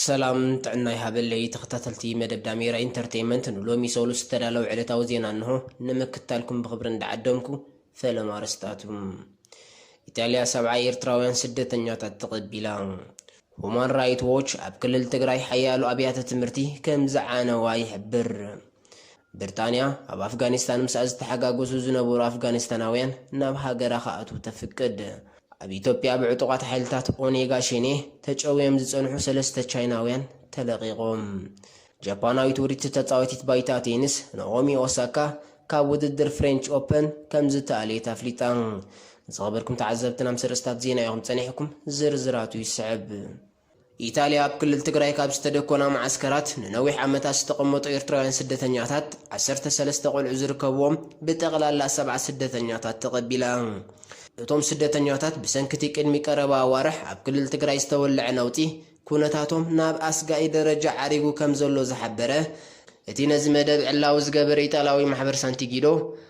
ሰላም ጥዕና ይሃበለይ ተኸታተልቲ መደብ ዳሜራ ኢንተርተይመንት ንሎሚ ሰሉስ ዝተዳለወ ዕለታዊ ዜና እንሆ ንምክታልኩም ብኽብሪ እንዳዓደምኩ ፈለማ ኣርስታቱ ኢጣልያ ሰብዓ ኤርትራውያን ስደተኛታት ተቐቢላ ሁማን ራይት ዎች ኣብ ክልል ትግራይ ሓያሉ ኣብያተ ትምህርቲ ከም ዝዓነዋ ይሕብር ብርጣንያ ኣብ ኣፍጋኒስታን ምስኣ ዝተሓጋገሱ ዝነበሩ ኣፍጋኒስታናውያን ናብ ሃገራ ክኣትዉ ተፍቅድ ኣብ ኢትዮጵያ ብዕጡቓት ሓይልታት ኦኔጋ ሸኔ ተጨውዮም ዝጸንሑ ሰለስተ ቻይናውያን ተለቒቖም። ጃፓናዊት ውርይቲ ተጻዋቲት ባይታ ቴንስ ናኦሚ ኦሳካ ካብ ውድድር ፍሬንች ኦፐን ከምዝተኣልየት ኣፍሊጣ። ዝኸበርኩም ተዓዘብትና ምስ ኣርእስታት ዜና ኢኹም ጸኒሕኩም፣ ዝርዝራቱ ይስዕብ። ኢታልያ ኣብ ክልል ትግራይ ካብ ዝተደኮና መዓስከራት ንነዊሕ ዓመታት ዝተቐመጡ ኤርትራውያን ስደተኛታት ዓሰርተ ሰለስተ ቆልዑ ዝርከብዎም ብጠቕላላ ሰብዓ ስደተኛታት ተቐቢላ። እቶም ስደተኛታት ብሰንኪ'ቲ ቅድሚ ቀረባ ኣዋርሕ ኣብ ክልል ትግራይ ዝተወለዐ ነውጺ ኩነታቶም ናብ ኣስጋኢ ደረጃ ዓሪጉ ከምዘሎ ዝሓበረ እቲ ነዚ መደብ ዕላዊ ዝገበረ ኢጣልያዊ ማሕበር ሳንቲጊዶ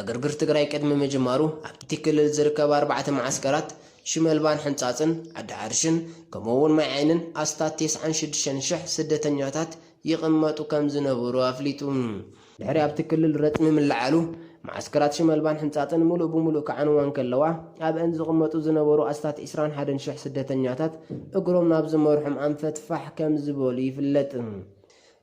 ዕግርግር ትግራይ ቅድሚ ምጅማሩ ኣብቲ ክልል ዝርከባ ኣርባዕተ መዓስከራት፣ ሽመልባን ሕንጻጽን፣ ዓዲ ዓርሽን፣ ከምኡ'ውን ማይ ዓይንን፣ ኣስታት ቴስዓን ሽዱሽተን ሽሕ ስደተኛታት ይቕመጡ ከም ዝነበሩ ኣፍሊጡ። ድሕሪ ኣብቲ ክልል ረጽሚ ምልዓሉ፣ መዓስከራት ሽመልባን ሕንጻጽን ምሉእ ብምሉእ ክዓንዋ እንከለዋ፣ ኣብ'ን ዝቕመጡ ዝነበሩ ኣስታት ዕስራን ሓደን ሽሕ ስደተኛታት እግሮም ናብ ዝመርሖም ኣንፈት ፋሕ ከም ዝበሉ ይፍለጥ።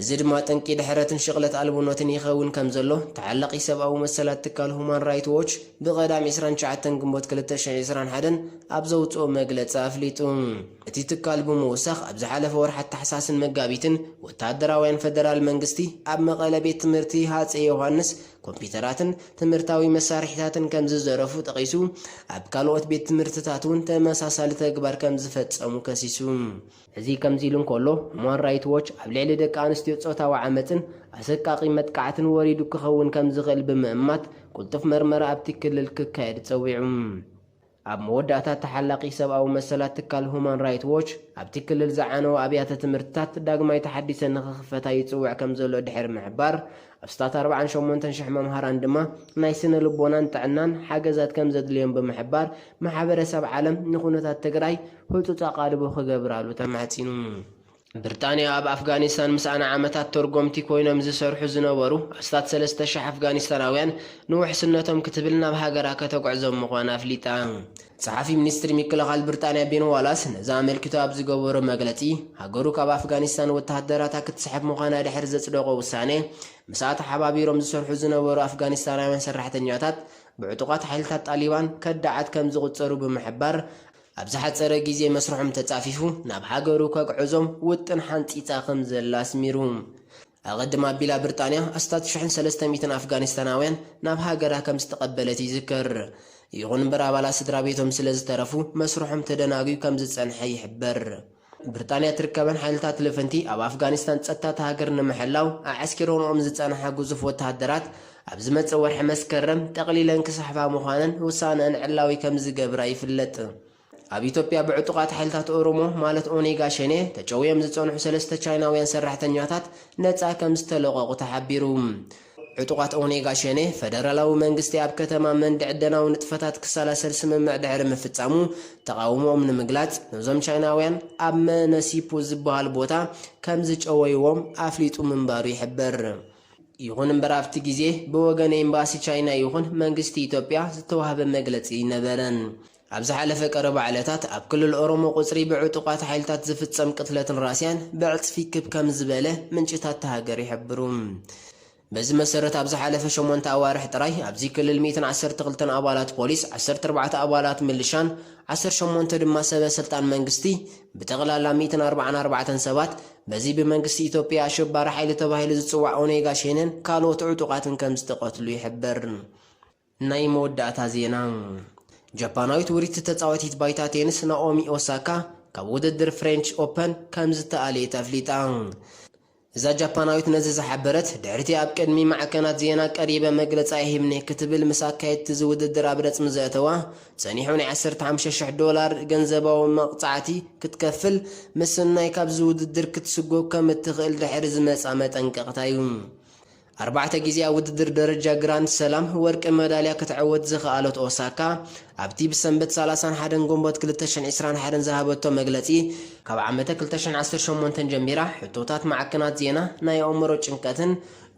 እዚ ድማ ጠንቂ ድሕረትን ሽቕለት ኣልቦነትን ይኸውን ከም ዘሎ ተዓላቒ ሰብኣዊ መሰላት ትካል ሁማን ራይት ዎች ብቐዳም ዕስራን ትሽዓተን ግንቦት ክልተ ሽሕ ዕስራን ሓደን ኣብ ዘውጽኦ መግለጺ ኣፍሊጡ። እቲ ትካል ብምውሳኽ ኣብ ዝሓለፈ ወርሓት ታሕሳስን መጋቢትን ወተሃደራውያን ፈደራል መንግስቲ ኣብ መቐለ ቤት ትምህርቲ ሃጸይ ዮሃንስ ኮምፒተራትን ትምህርታዊ መሳርሒታትን ከም ዝዘረፉ ጠቒሱ ኣብ ካልኦት ቤት ትምህርትታት'ውን ተመሳሳሊ ተግባር ከም ዝፈጸሙ ከሲሱ። እዚ ከምዚ ኢሉ እንከሎ፣ ሁማን ራይት ዎች ኣብ ልዕሊ ደቂ ኣንስትዮ ጾታዊ ዓመጽን ኣሰቃቒ መጥቃዕትን ወሪዱ ክኸውን ከም ዝኽእል ብምእማት ቅልጡፍ መርመራ ኣብቲ ክልል ክካየድ ጸዊዑ። ኣብ መወዳእታ ተሓላቒ ሰብኣዊ መሰላት ትካል ሁማን ራይት ዎች፣ ኣብቲ ክልል ዝዓነዋ ኣብያተ ትምህርትታት ዳግማይ ተሓዲሰን ንኽኽፈታ ይጽውዕ ከም ዘሎ ድሕሪ ምሕባር፣ ኣስታት ኣርባዓን ሸሞንተን ሽሕ መምሃራን ድማ ናይ ስነ ልቦናን ጥዕናን ሓገዛት ከም ዘድልዮም ብምሕባር፣ ማሕበረሰብ ዓለም ንኩነታት ትግራይ ህፁፅ ኣቓልቦ ክገብራሉ ተማሕፂኑ። ብርጣንያ ኣብ ኣፍጋኒስታን ምስኣ ንዓመታት ተርጎምቲ ኮይኖም ዝሰርሑ ዝነበሩ ኣስታት ሰለስተ ሽሕ ኣፍጋኒስታናውያን ንውሕስነቶም ክትብል ናብ ሃገራ ከተጉዕዞም ምዃና ኣፍሊጣ። ጸሓፊ ሚኒስትሪ ምክልኻል ብርጣንያ ቤን ዋላስ ነዚ ኣመልኪቱ ኣብ ዝገበሮ መግለጺ፣ ሃገሩ ካብ ኣፍጋኒስታን ወተሃደራታ ክትስሕብ ምዃና ድሕሪ ዘጽደቖ ውሳነ፣ ምስኣ ተሓባቢሮም ዝሰርሑ ዝነበሩ ኣፍጋኒስታናውያን ሰራሕተኛታት ብዕጡቓት ሓይልታት ጣሊባን ከዳዓት ከም ዝቑጸሩ ብምሕባር፣ ኣብ ዝሓጸረ ግዜ መስርሖም ተጻፊፉ ናብ ሃገሩ ከግዕዞም ውጥን ሓንጺጻ ከም ዘላ ኣስሚሩ። ኣቐድም ኣቢላ ብርጣንያ ኣስታት ሽሕን ሰለስተ ሚእትን ኣፍጋኒስታናውያን ናብ ሃገራ ከም ዝተቐበለት ይዝከር። ይኹን እምበር ኣባላት ስድራ ቤቶም ስለ ዝተረፉ መስርሖም ተደናጉዩ ከም ዝጸንሐ ይሕበር። ብርጣንያ እትርከበን ሓይልታት ልፍንቲ ኣብ ኣፍጋኒስታን ጸጥታ እታ ሃገር ንምሕላው ኣዐስኪሮንኦም ዝጸንሓ ግዙፍ ወተሃደራት ኣብ ዝመጽእ ወርሒ መስከረም ጠቕሊለን ክስሕባ ምዃነን ውሳነኣን ዕላዊ ከም ዝገብራ ይፍለጥ። ኣብ ኢትዮጵያ ብዕጡቓት ሓይልታት ኦሮሞ ማለት ኦኔጋ ሸኔ ተጨውዮም ዝጸንሑ ሰለስተ ቻይናውያን ሰራሕተኛታት ነጻ ከምዝተለቐቑ ተሓቢሩ። ዕጡቓት ኦኔጋ ሸኔ፣ ፈደራላዊ መንግስቲ ኣብ ከተማ መንድ ዕደናዊ ንጥፈታት ክሰላሰል ስምምዕ ድሕሪ ምፍጻሙ ተቓውሞኦም ንምግላጽ ነዞም ቻይናውያን ኣብ መነሲፑ ዝበሃል ቦታ ከምዝጨወይዎም ኣፍሊጡ ምንባሩ ይሕበር። ይኹን እምበር ኣብቲ ግዜ ብወገን ኤምባሲ ቻይና ይኹን መንግስቲ ኢትዮጵያ ዝተዋህበ መግለጺ ኣይነበረን። ኣብ ዝሓለፈ ቀረባ ዕለታት ኣብ ክልል ኦሮሞ ቁጽሪ ብዕጡቓት ሓይልታት ዝፍጸም ቅትለትን ራስያን ብዕጽፊ ክብ ከም ዝበለ ምንጭታት እታ ሃገር ይሕብሩ። በዚ መሰረት ኣብ ዝሓለፈ ሸሞንተ ኣዋርሕ ጥራይ ኣብዚ ክልል ሚእትን ዓሰርተ ክልተን ኣባላት ፖሊስ፣ ዓሰርተ ኣርባዕተ ኣባላት ምልሻን ዓሰርተ ሸሞንተ ድማ ሰበ ስልጣን መንግስቲ ብጠቕላላ ሚእትን ኣርብዓን ኣርባዕተን ሰባት በዚ ብመንግስቲ ኢትዮጵያ ኣሸባሪ ሓይሊ ተባሂሉ ዝጽዋዕ ኦኔጋ ሼነን ካልኦት ዕጡቓትን ከም ዝተቐትሉ ይሕበር። ናይ መወዳእታ ዜና ጃፓናዊት ውርይቲ ተጻዋቲት ባይታ ቴንስ ናኦሚ ኦሳካ ካብ ውድድር ፍሬንች ኦፐን ከምዝተኣልየት ኣፍሊጣ። እዛ ጃፓናዊት ነዚ ዝሓበረት ድሕሪ'ቲ ኣብ ቅድሚ ማዕከናት ዜና ቀሪበ መግለጻ ይህብኒ ክትብል ምስ ኣካየድቲ እዚ ውድድር ኣብ ረጽሚ ዘእተዋ ጸኒሑ ናይ ዓሰርተ ሓሙሽተ ሽሕ ዶላር ገንዘባዊ መቕጻዕቲ ክትከፍል ምስናይ ካብዚ ውድድር ክትስጎግ ከምእትኽእል ድሕሪ ዝመጽኣ መጠንቀቕታ'ዩ። ኣርባዕተ ግዜ ኣብ ውድድር ደረጃ ግራንድ ሰላም ወርቂ መዳልያ ክትዕወት ዝኸኣለት ኦሳካ፣ ኣብቲ ብሰንበት ሰላሳን ሓደን ግንቦት ክልተ ሽሕን ዕስራን ሓደን ዝሃበቶ መግለጺ፣ ካብ ዓመተ ክልተ ሽሕን ዓሰርተ ሸሞንተን ጀሚራ ሕቶታት ማዕከናት ዜና ናይ ኣእምሮ ጭንቀትን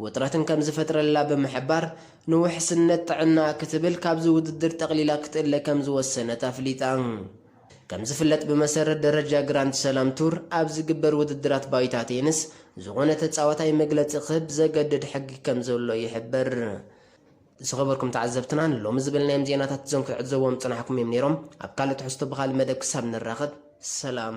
ውጥረትን ከም ዝፈጥረላ ብምሕባር፣ ንውሕስነት ጥዕናኣ ክትብል ካብዚ ውድድር ጠቕሊላ ክትእለ ከም ዝወሰነት ኣፍሊጣ። ከምዝፍለጥ ብመሰረት ደረጃ ግራንድ ሰላም ቱር ኣብ ዝግበር ውድድራት ባይታ ቴንስ ዝኾነ ተጻዋታይ መግለጺ ክህብ ዘገድድ ሕጊ ከምዘሎ ይሕበር። ዝኸበርኩም ተዓዘብትና ንሎሚ ዝበልናዮም ዜናታት እዞም ክትዕዘብዎም ዝጸናሕኩም እዮም ነይሮም። ኣብ ካልእ ትሕዝቶ ብኻልእ መደብ ክሳብ ንራኸብ ሰላም።